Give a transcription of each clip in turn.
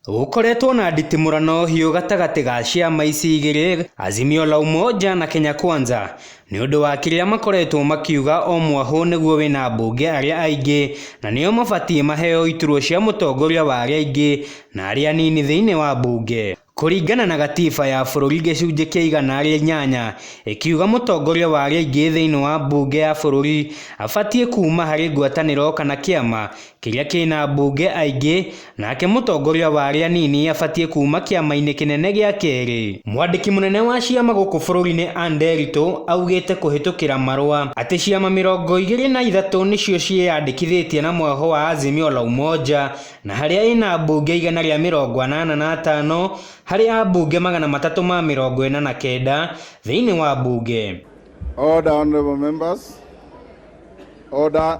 Gũkoretwo na nditimũrano hiũ gatagatĩ ga ciama ici igĩrĩ, Azimio la Umoja na Kenya Kwanza, nĩ ũndũ wa kĩrĩa makoretwo makiuga o mwahũ nĩguo wĩna ambunge arĩa aingĩ na nĩo mabatiĩ maheo iturwa cia mũtongoria wa arĩa aingĩ na arĩa anini thĩinĩ wa mbunge. Kũringana na gatiba ya bũrũri gĩcunjĩ kĩa igana rĩa inyanya ĩkiuga mũtongoria wa arĩa aingĩ thĩinĩ wa mbunge ya bũrũri abatiĩ kuuma harĩ ngwatanĩro kana kĩama kĩrĩa kĩna ambunge aingĩ, nake mũtongoria wa arĩa anini abatiĩ kuuma kĩama-inĩ kĩnene gĩa kerĩ. Mwandĩki mũnene wa ciama gũkũ bũrũri-inĩ Ann Nderitu augĩte kũhĩtũkĩra marũa atĩ ciama mĩrongo igĩrĩ na ithatũ nĩcio ciĩyandĩkithĩtie na mwĩhoko wa Azimio la Umoja na harĩa ĩna ambunge igana rĩa mĩrongo anana na atano harĩ ambunge magana matatũ ma mĩrongo ĩna na kenda thĩinĩ wa mbunge. Order, honorable members. Order.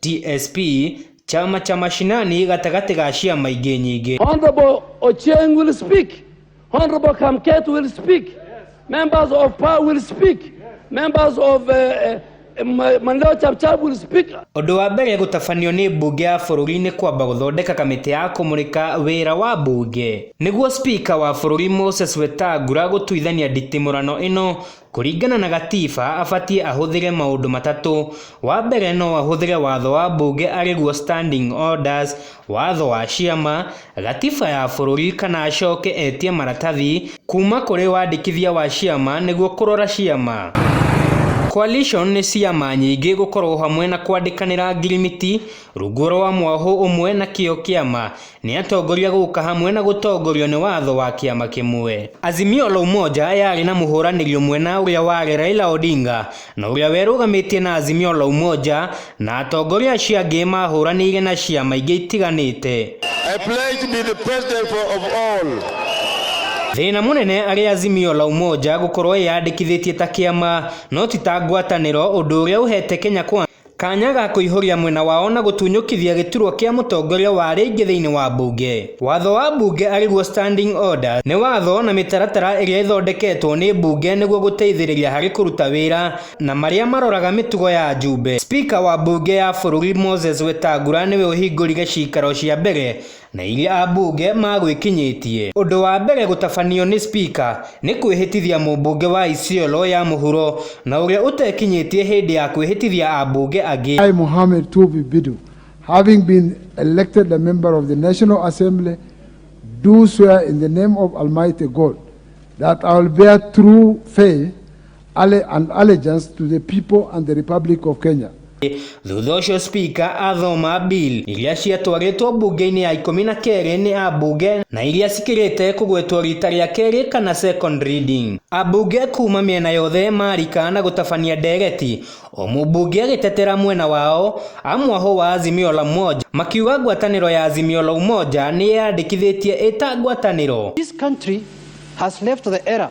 TSP, chama cha mashinani gatagatĩ ga ciama ingĩ nyingĩ. Honorable Ochieng will speak. Honorable Kamket will speak. Members of PA will speak. Members of uh, uh, Ma- Mandela Chapchap will speak. Ũndũ wa mbere gũtabanio nĩ mbunge ya bũrũri nĩ kwamba gũthondeka kamĩtĩ ya kũmũrĩka wĩra wa mbunge nĩguo spika wa bũrũri Moses Wetangula gũtuithania nditimũrano ĩno Kũringana na gatiba abatie ahũthĩre maũndũ matatũ, wa mbere no ahũthĩre watho wa mbunge arĩguo standing orders, watho wa ciama, gatiba ya bũrũri kana acoke etie maratathi kuma kũrĩ wandĩkithia wa ciama nĩguo kũrora ciama. Coalition nĩ ciama nyingĩ gũkorwo hamwe na kwandĩkanĩra ngirimiti rungu rwa mwahũ ũmwe na kĩo kĩama. Nĩ atongoria gũka hamwe na gũtongorio nĩ watho wa kĩama kĩmwe. Azimio la Umoja yarĩ na mũhũranĩri ũmwe na ũrĩa warĩ Raila Odinga na ũrĩa werũgamĩtie na Azimio la Umoja na atongoria acio angĩ mahũranĩire na ciama ingĩ itiganĩte. I pledge to be the president for, of all. Thĩna mũnene arĩ Azimio la Umoja gũkorwo ĩyandĩkithĩtie ta kĩama no ti ta ngwatanĩro ũndũ ũrĩa ũhete Kenya Kwanza Kanya ga kũihũria mwena wao na gũtunyũkithia gĩturwa kĩa mũtongoria wa arĩa aingĩ thĩinĩ wa mbunge. Watho wa mbunge arĩguo standing order nĩ watho na mĩtaratara ĩrĩa ĩthondeketwo nĩ mbunge nĩguo gũteithĩrĩria harĩ kũruta wĩra na marĩa maroraga mĩtugo ya ajumbe. Speaker wa mbunge ya bũrũri Moses Wetangula nĩwe ũhingũrire ciikaro cia mbere na iria ambunge magwĩkinyĩtie. Ũndũ wa mbere gũtabanio nĩ Spika nĩ kwĩhĩtithia mũmbunge wa Isiolo ya mũhuro na ũrĩa ũtekinyĩtie hĩndĩ ya kwĩhĩtithia ambunge angĩ. I, Mohamed Tuubi Bidu, having been elected a member of the National Assembly, do swear in the name of Almighty God that I will bear true faith alle and allegiance to the people and the Republic of Kenya. Thutha ũcio spika athoma bill iria ciatwarĩtwo mbunge-inĩ ya ikũmi na kerĩ nĩ ambunge na iria cikĩrĩte kũgwetwo rita rĩa kerĩ kana second reading. Ambunge kuma mĩena yothe marika na gũtabania ndereti, o mũmbunge agĩtetera mwena wao, a mwahũ wa Azimio la Umoja makiuga ngwatanĩro ya Azimio la Umoja nĩyeyandĩkithĩtie ĩta ngwatanĩro. This country has left the era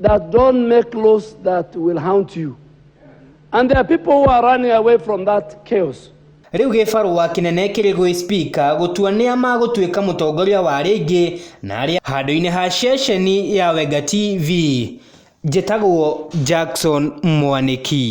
that don't make laws that will haunt you. And there are people who are running away from that chaos. rĩu gĩbarũa kĩnene kĩrĩ gwĩ spika gũtua nĩa magũtuĩka mũtongoria wa rĩngĩ na arĩa handũ-inĩ ha ceceni ya wenga tv njĩtagwo jackson mwanĩki